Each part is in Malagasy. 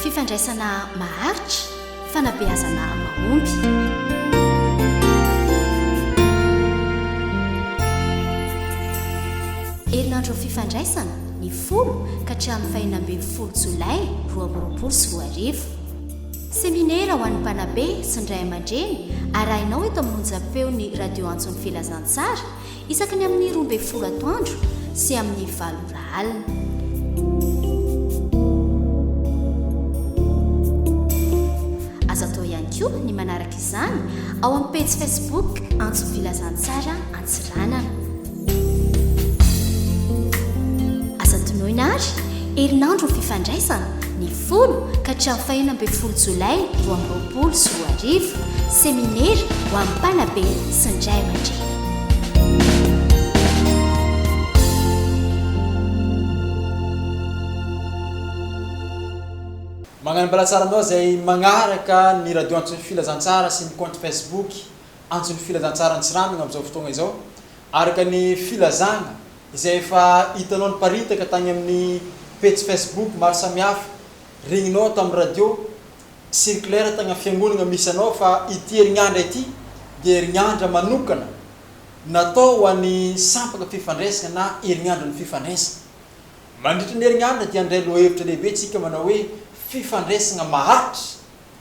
Fifandraisana maharitra, fanabeazana mahomby. herinandro fifandraisana ny folo ka hatramin'ny fahina ambin'ny folo jolay roa amby roapolo sy roa arivo Seminera ho an'ny mpanabe sy ny ray aman-dreny arahinao eto amin'ny onjam-peon'ny Radio Antson'ny Filazantsara isaky ny amin'ny roa ambin'ny folo atoandro sy amin'ny valo ora alina. Azo atao ihany koa ny manaraka izany ao amin'ny pejy Facebook Antson'ny Filazantsara Antsiranana. Aza adinoina àry, herinandron'ny fifandraisana, ny folo ka hatramin'ny fahenina ambin'ny folo jolay roa amby roapolo sy roa arivo, seminera ho an'ny mpanabe sy ny ray aman-dreny. Magnano bala tsara anao zay magnaraka ny radio antson'ny filazantsara sy ny compte Facebook. antson'ny filazantsara antsiranana amin'izao fotoana izao, araka ny filazana izay efa hitanao niparitaka tany amin'ny pejy Facebook maro samihafa, regninao ato amin'ny radio, circulaire tany amin'ny fiangonana misy anao fa ity herin'andra ity dia herin'andra manokana natao ho an'ny sampana fifandraisana na herin'andron'ny fifandraisana. Mandritra ny herin'andra dia handray lohahevitra lehibe isika manao hoe fifandraisana maharitra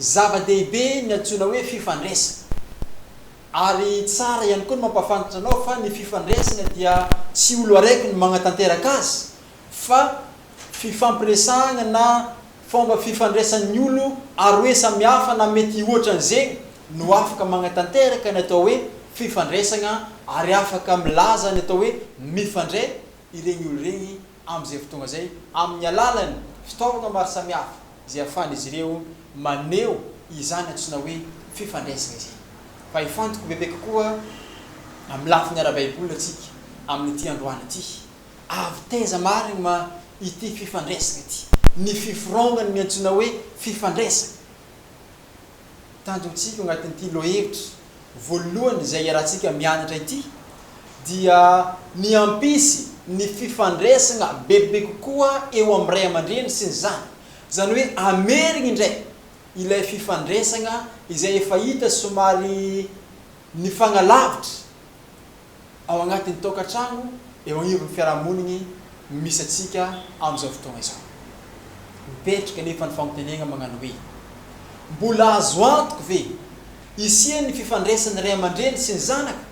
Zava-dehibe ny antsoina hoe fifandresina. Ary tsara ihany koa ny mampahafantatra anao fa ny fifandresina dia tsy olo araiky no magnatanteraka azy fa fifampiresahagna na fomba fifandraisan'ny olo aroe samy hafa na mety hihoatran'izegny no afaka magnatanteraka ny atao hoe fifandresagna ary afaka milaza ny atao hoe mifandray iregny olo regny am'izay fotoagna zay amin'ny alalan'ny fitaovagna maro samy hafa. izay ahafahan'izy ireo maneho izany antsoina hoe fifandraisana izany. Fa hifantoka bebe kokoa amin'ny lafiny ara-baiboly isika amin'ity androany ity. Avy taiza marigny ma ity fifandraisana ity? Ny fifiraonan'ny antsoina hoe fifandraisana. tanjontsika ao anatin'ity lohahevitra voalohany izay iarahantsika mianatra ity dia ny hampisy ny fifandraisana bebe kokoa eo amin'ny ray aman-dreny sy ny zanany. Izany hoe hamerina indray ilay fifandraisana izay efa hita somary nifanalavitra. ao anatin'ny tokantrano eo anivon'ny fiarahamoniny misy antsika amin'izao fotoana izao. Mipetraka anefa ny fampirenena mañano hoe, Mbola azo antoky ve hisian'ny fifandraisan'ny ray aman-dreny sy ny zanaka?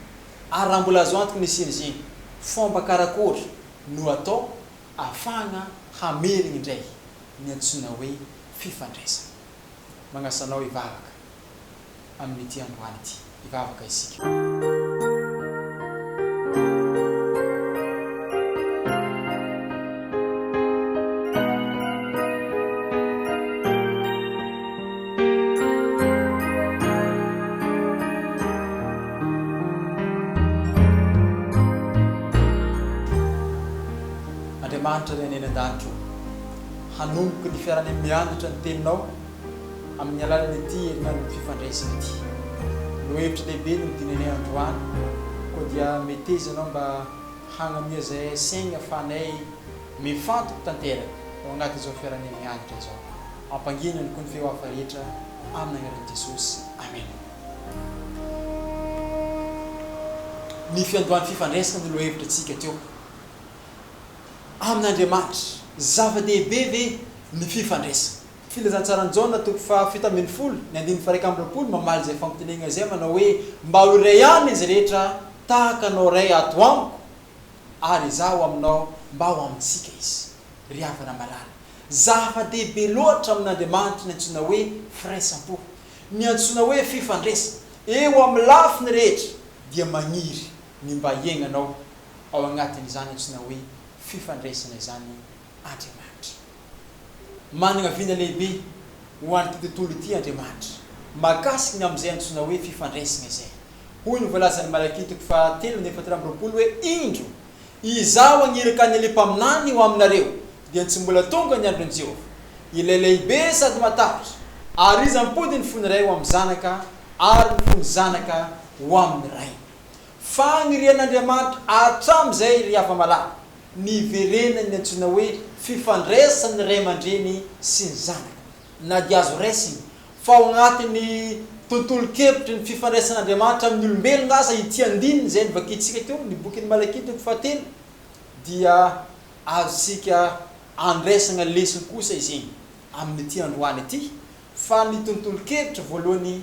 Ary raha mbola azo antoky ny hisian'izeny, fomba karakory no atao ahafahana hamerina indray ny antsoina hoe fifandraisana? Mañasa anao hivavaka. amin'ity androany ity. Hivavaka isika. Andriamanitra ry any an-danitra ô, hanomboka ny fiarany mianatra ny Teninao. Amin'ny alalan'ity herinandron'ny fifandraisana ity no hevitry lehibe no dinanay androany koa dia meteza anao mba hagnamia izay saigny afahanay mifantoky tanteraka ao anaty izao fiaranay mianatra izao. Ampangino ihany koa ny feo hafa rehetra amin'ny agnaran'i Jesosy. Amena. Ny fiandohan'ny fifandraisana no lohahevitra tsika teo amin'Andriamanitra. Zava-dehibe ve ny fifandraisana? Filazantsaran'i Jaona toko fahafito ambin'ny folo, ny andininy faharaika amby roapolo mamaly izay fampitendrena izay manao hoe, Mba ho iray aminy izy rehetra tahaka anao Ray ato amiko ary izaho aminao mba ho amintsika izy. Ry havana malala, zava-dehibe loatra amin'Andriamanitra ny antsoina hoe firaisam-po, ny antsoina hoe fifandraisana. Eo amin'ny lafiny rehetra dia maniry ny mba hiainanao ao anatin'izany antsoina hoe fifandraisana izany Andriamanitra. Manana vina lehibe ho an'ity tontolo ity Andriamanitra, mahakasika ny amin'izay antsoina hoe fifandraisana izay. Hoy ny voalazan'i Malakia toko fahatelo andininy fahatelo amby roapolo hoe, Indro, Izaho hagniraka ny elia mpaminany ho aminareo, dia tsy mbola tonga ny andron'i Jehovah, ilay lehibe sady matahotra, ary iza hampody ny fon'ny ray ho amin'ny zanaka, ary ny fon'ny zanaka ho amin'ny rainy. Fanirian'Andriamanitra hatramin'izay ry hava-malala. niverenan'ny antsoina hoe fifandraisan'ny ray aman-dreny sy ny zanaka, na dia azo raisina fa ao anatin'ny tontolon-kevitry ny fifandraisan'Andriamanitra amin'ny olombelona aza ity andininy izay novakintsika teo, ny bokin'i Malakia toko fahatelo, dia azontsika andraisana lesona kosa izany amin'ity androany ity fa ny tontolon-kevitra voalohany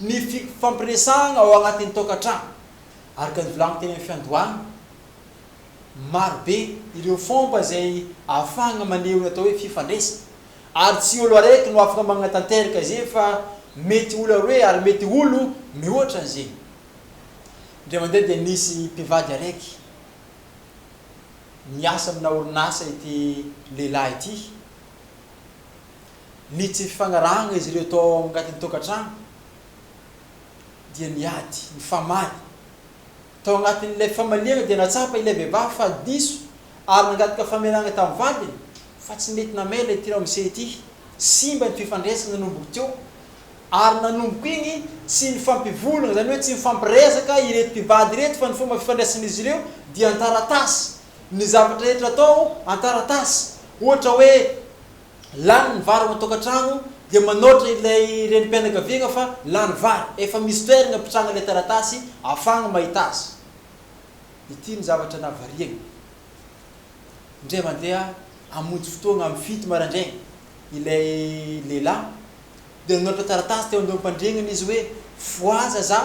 ny fifampiresahana ao anatin'ny tokantrano. Araka ny volagno teny amin'ny fiandohana, marobe ireo fomba izay ahafahana maneho ny atao hoe fifandraisana ary tsy olo araiky no afaka magnatanteraka izay fa mety olo aroe ary mety olo mihoatra an'izegny. Indray mandeha dia nisy mpivady araiky miasa amina orinasa ity lehilahy ity. ny tsy fifanarahana izy ireo tao anatin'ny tokantrano dia niady, nifamaly. Tao anatin'ilay famaliana dia nahatsapa ilay vehivavy fa diso ary nangataka famelana tamin'ny vadiny fa tsy mety namela ity ramose ity. Simba ny fifandraisana nanomboka teo ary nanomboka iny tsy nifampivolagna, izany hoe tsy nifampiresaka ireto mpivady ireto fa ny fomba fifandraisan'izy ireo dia an-taratasy, ny zavatra rehetra atao an-taratasy, ohatra hoe lany ny vary ao an-tokantrano dia manaotra ilay renim-pianakaviagna fa lany vary, efa misy toeragna apitrahagna ilay taratasy afahagna mahita azy. Ity ny zavatra navariagny, indray mandeha hamonjy fotoagna amin'ny fito maraindraigny ilay lehilahy dia nanaotra taratasy teo andoham-pandriagnany izy hoe fohaza za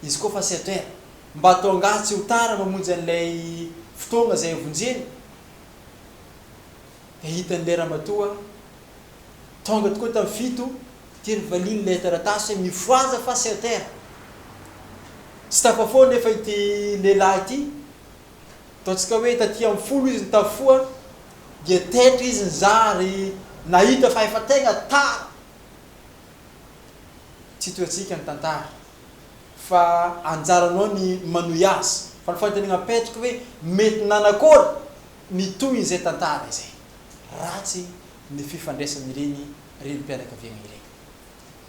izy koa fa sept heures mba ataongaha tsy ho tara mamonjy an'ilay fotoagna izay hovonjeny. Dia hitan'ilay ramatoa tonga tokoa tamin'ny fito ity ry valiana ilay taratasy hoe mifohaza fa c'est à terre. Tsy tafafoha anefa ity lehilahy ity. Ataontsika hoe taty amin'ny folo izy no tafafoha dia taitra izy nizaha ary nahita fa efa tegna tara. Tsy toy antsika ny tantara. fa anjaranao ny manohy azy, fa ny fanontaniana apetrako hoe mety nanakory ny tohin'izay tantara izay? Ratsy ny fifandraisan'ireny renim-pianakaviagna ireny.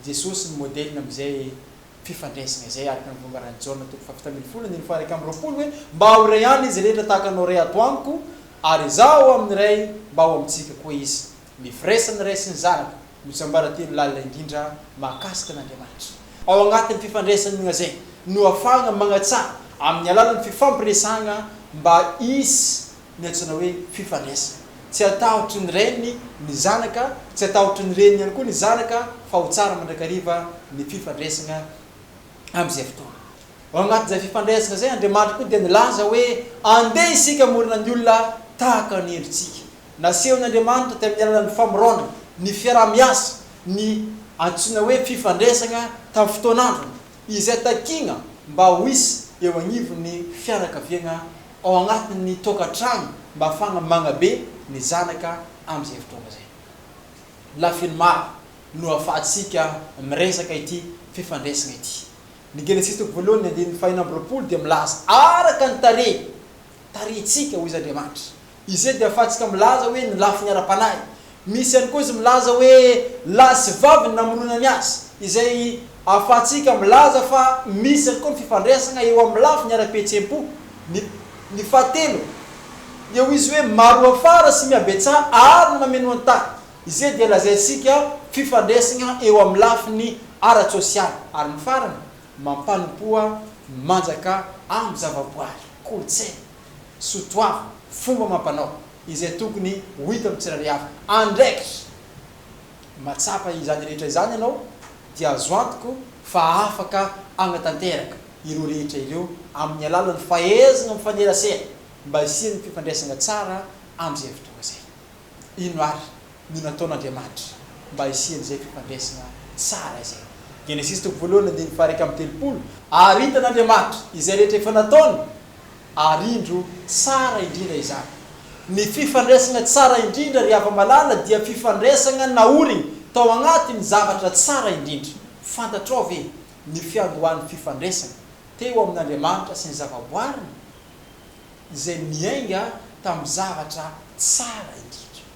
Jesosy no modèle amin'izay fifandraisana izay araka ny longaran'i Jaona toko fahafito ambin'ny folo andininy faha-iraika amby roapolo hoe mba ho iray ihany izy rehetra tahaka anao Ray ato amiko ary Izaho ao amin'ny Ray mba ao amintsika koa izy Ny firaisana raisin'ny zanaka no tsiambaratelo lalina indrindra mahakasika an'Andriamanitra. Ao anatin'ny fifandraisana iognazay no ahafahana magnatsara amin'ny alalan'ny fifampiresahana mba hisy ny antsoina hoe fifandraisana. Tsy atahotry ny rainy ny zanaka, tsy atahotry ny reniny ihany koa ny zanaka fa ho tsara mandrakariva ny fifandraisana amin'izay fotoana. Ao anatin'izay fifandraisana izay Andriamanitra koa dia nilaza hoe andeha isika hamorona ny olona tahaka ny endritsika. Nasehon' Andriamanitra tamin' ny alalan' ny famorona ny fiaraha-miasa ny antsoina hoe fifandresana tamin'ny fotoan' androny, izay takiana mba ho hisy eo anivon' ny fianakaviana ao anatin' ny tokantrano mafana magnabe ny zanaka amin' izay fotoana izay. Lafiny maro no ahafahantsika miresaka ity fifandresana ity. Ny Genesisy toko voalohany ny andininy fahenina amby roapolo dia milaza araka ny tarehy tarihintsika, hoy izy, Andriamanitra. Izay dia ahafahantsika milaza hoe ny lafiny ara-panahy. Misy ihany koa izy milaza hoe lahy sy vavy ny namonoana ny azy, izay ahafahantsika milaza fa misy ihany koa ny fifandraisana eo amin'ny lafiny ara-pihetseham-po. Ny ny fahatelo dia hoy izy hoe maro hoafara sy mihabetsaha àry no mameno an-tany. Izay dia lazaintsika fifandraisana eo amin'ny lafiny ara-tsosialy. Ary ny farany. mampanompoa ny manjaka amin'ny zavaboary, kolontsaina, soatoavina, fomba amam-panao, izay tokony ho hita amin'ny tsirairay avy. Andraikitra! Mahatsapa izany rehetra izany ianao, dia azo antoka fa afaka hanatanteraka ireo rehetra ireo amin'ny alalan'ny fahaizana mifanerasera mba hisian'ny fifandraisana tsara amin'izay fotoana izay. Inona àry no nataon'Andriamanitra mba hisian'izay fifandraisana tsara izay. Genesisy toko voalohany andininy faha-iraika amby telopolo. Ary hitan'Andriamanitra izay rehetra efa nataony, ary indro tsara indrindra izany. Ny fifandraisana tsara indrindra, ry hava-malala, dia fifandraisana naoriny tao agnatin'ny zavatra tsara indrindra. Fantatrao ve ny fiandohan'ny fifandraisana teo amin'Andriamanitra sy ny zavaboariny, izay niainga tamin'ny zavatra tsara indrindra?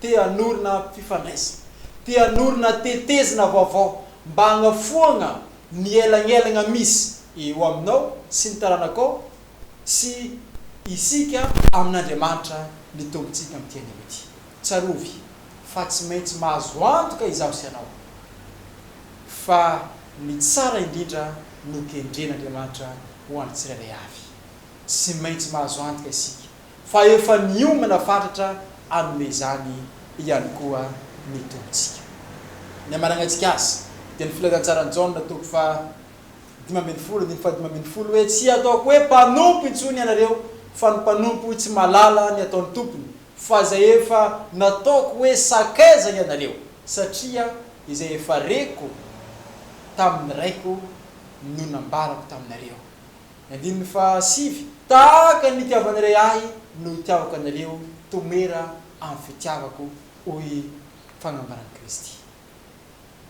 te hanorina fifandraisana, te hanorina tetezina vaovao mba hagnafoagna ny elagnelagna misy eo aminao sy ny taranakao sy isika amin'Andriamanitra ny Tompontsika amin'ity anio ity. Tsarovy fa tsy maintsy mahazo antoka izaho sy ianao fa ny tsara indrindra no kendren'Andriamanitra ho an'ny tsirairay avy. Tsy maintsy mahazo antoka isika. fa efa niomana fatratra hanome izany ihany koa ny Tompontsika. Ny hamanagnantsika Azy dia ny Filazantsaran'i Jaona toko faha dimy ambin'ny folo andininy faha dimy ambin'ny folo hoe, Tsy hataoko hoe mpanompo intsony ianareo, fa ny mpanompo tsy mahalala ny ataon'ny tompony, fa izay efa nataoko hoe sakaiza ianareo, satria izay efa reko tamin'ny Raiko no nambarako taminareo. Andininy faha sivy, Tahaka ny nitiavan' irey ahy no hitiavako anareo, tomera amin'ny fitiavako, hoy fagnambaran'i Kristy.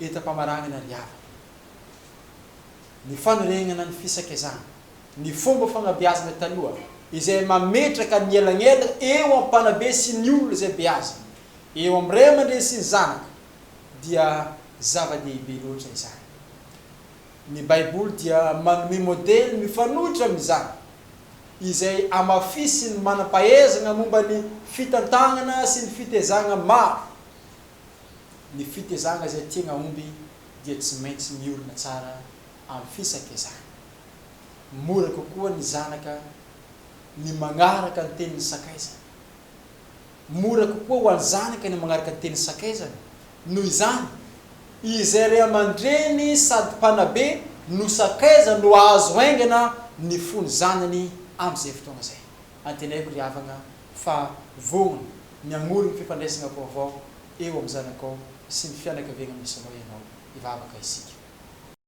Entam-pamaranana ry havana, ny fanoregnana ny fisakezana, ny fomba fagnabeazana taloha izay mametraka ny elagnelagna eo amin'ny mpanabe sy ny olona izay beazina, eo amin'ny ray aman-dreny sy ny zanaka, dia zava-dehibe loatra izany. Ny Baiboly dia manome modely mifanohitra amin'izany, izay amafisin'ny manam-pahaizana momba ny fitantanana sy ny fitezagna maro, Ny fitezagna izay tiagna homby dia tsy maintsy miorina tsara amin'ny fisakizana. Mora kokoa ny zanaka ny magnaraka ny tenin'ny sakaizany. Mora kokoa ho an'ny zanaka ny manaraka ny teny sakaizany. Noho izany, izay ray aman-dreny sady mpanabe no sakaiza no azo haingana ny fon'ny zanany amin'izay fotoana izay. Antenaiko ry havagna fa vonona ny hamory ny fifandraisana vaovao eo amin'ny zanakao sy ny fianakaviagna misy anao ianao. Hivavaka isika.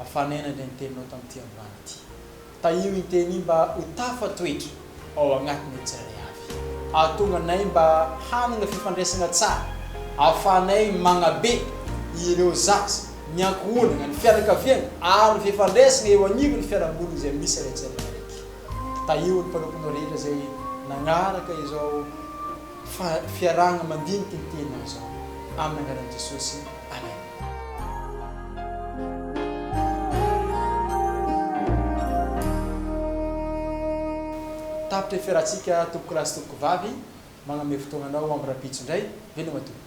Afanena ilay niteninao tamin'ity ambany ity. Tahio inteny mba ho tafatoetra ao agnatin'ny ny tsirairay avy. Ahatonga anay mba hanana fifandraisana tsara ahafahanay magnabe ireo zaza, ny ankohonana, ny fianakaviana ary ny fifandraisana eo anivon'ny fiarahamonina izay misy ilay tsirairay araiky. Tahio ny mpanomponao rehetra izay nagnaraka izao. Fa fiarahana mandinika ny tena izao aminy anarany Jesosy Amen. Tapitra ny fiarahantsika tompokolahy sy tompoko vavy, magname fotoagnanao amin'ny rahampitso indray, veloma tompoko.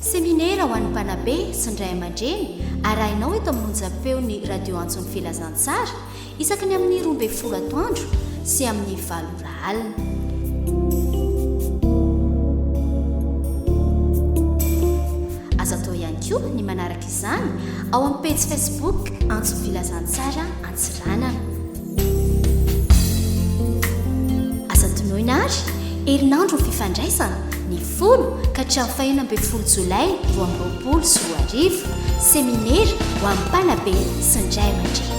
Seminera ho an'ny mpanabe sy ny ray aman-dreny arahinao eto amin'ny onjam-peon'ny Radio Antson'ny Filazantsara isaky ny amin'ny roa ambin'ny folo atoandro sy amin'ny valo ora alina. Azo atao ihany koa ny manaraka izany ao amin'ny pejy Facebook Antson'ny Filazantsara Antsiranana. Aza adinoina àry, herinandron'ny fifandraisana, ny folo ka hatramin'ny fahenina ambin'ny folo jolay roa amby roapolo sy roa arivo, seminera ho an'ny mpanabe sy ny ray aman-dreny.